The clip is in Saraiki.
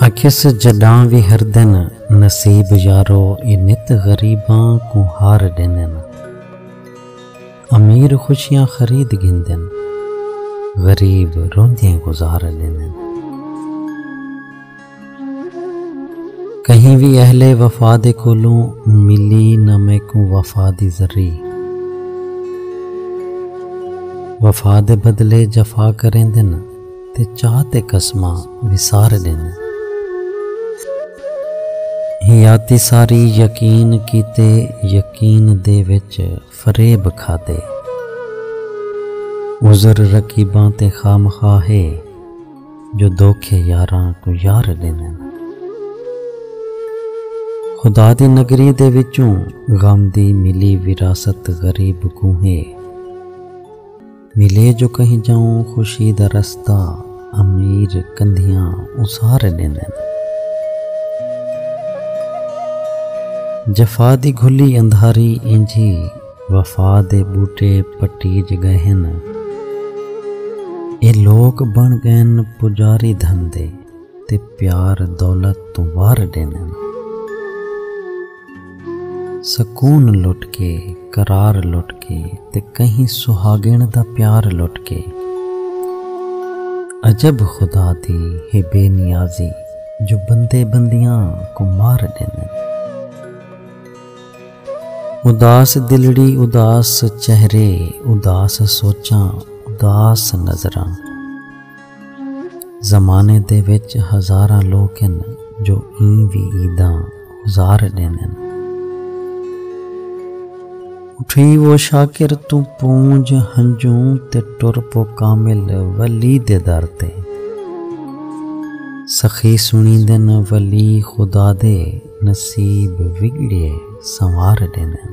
آکھیس جڈاں وی ہر دن نصیب یارو اے نت غریباں کوں ہار ڈیندن امیر خوشیاں خرید گھندن غریب روندیں گزار ڈیندن کہیں وی اہل وفا دے کولوں ملی نہ میکوں وفا دی ذری وفا دے بدلے جفا کریندن تے چاہ تے قسماں وسار ڈیندن ہیاتی ساری یقین کیتے یقین دے وچ فریب کھادے۔ عذر رقیباں تے خامخواہ ہے۔ جو دھوکے یاراں کوں یار ݙیندن۔ خدا دی نگری دے وچوں غم دی ملی وراثت غریب کوں ہے۔ ملے جو کہیں جاؤں خوشی دا رستہ امیر کندھیاں اسارے ڈیندن جفا دی گھلی اندھاری اینجھی وفا دے بوٹے پٹی جگہ ہن اے لوک بن گئن پجاری دھن دے تے پیار دولت تو وار ڈیندن سکون لٹ کے قرار لٹ کے تے کہیں سہاگن دا پیار لٹ کے عجب خدا دی ہے بے نیازی جو بندے بندیاں کو مار ڈیندے اداس دلڑی اداس چہرے اداس سوچاں اداس نظراں زمانے دے وچ ہزاراں لوک ہن جو ایں وی عیداں گزار ڈیندن اٹھی وہ شاکر تو پونج ہنجوں تے ٹر پو کامل ولی دے در تے سخی سنی دن ولی خدا دے نصیب وگڑیے سنوار ڈیندن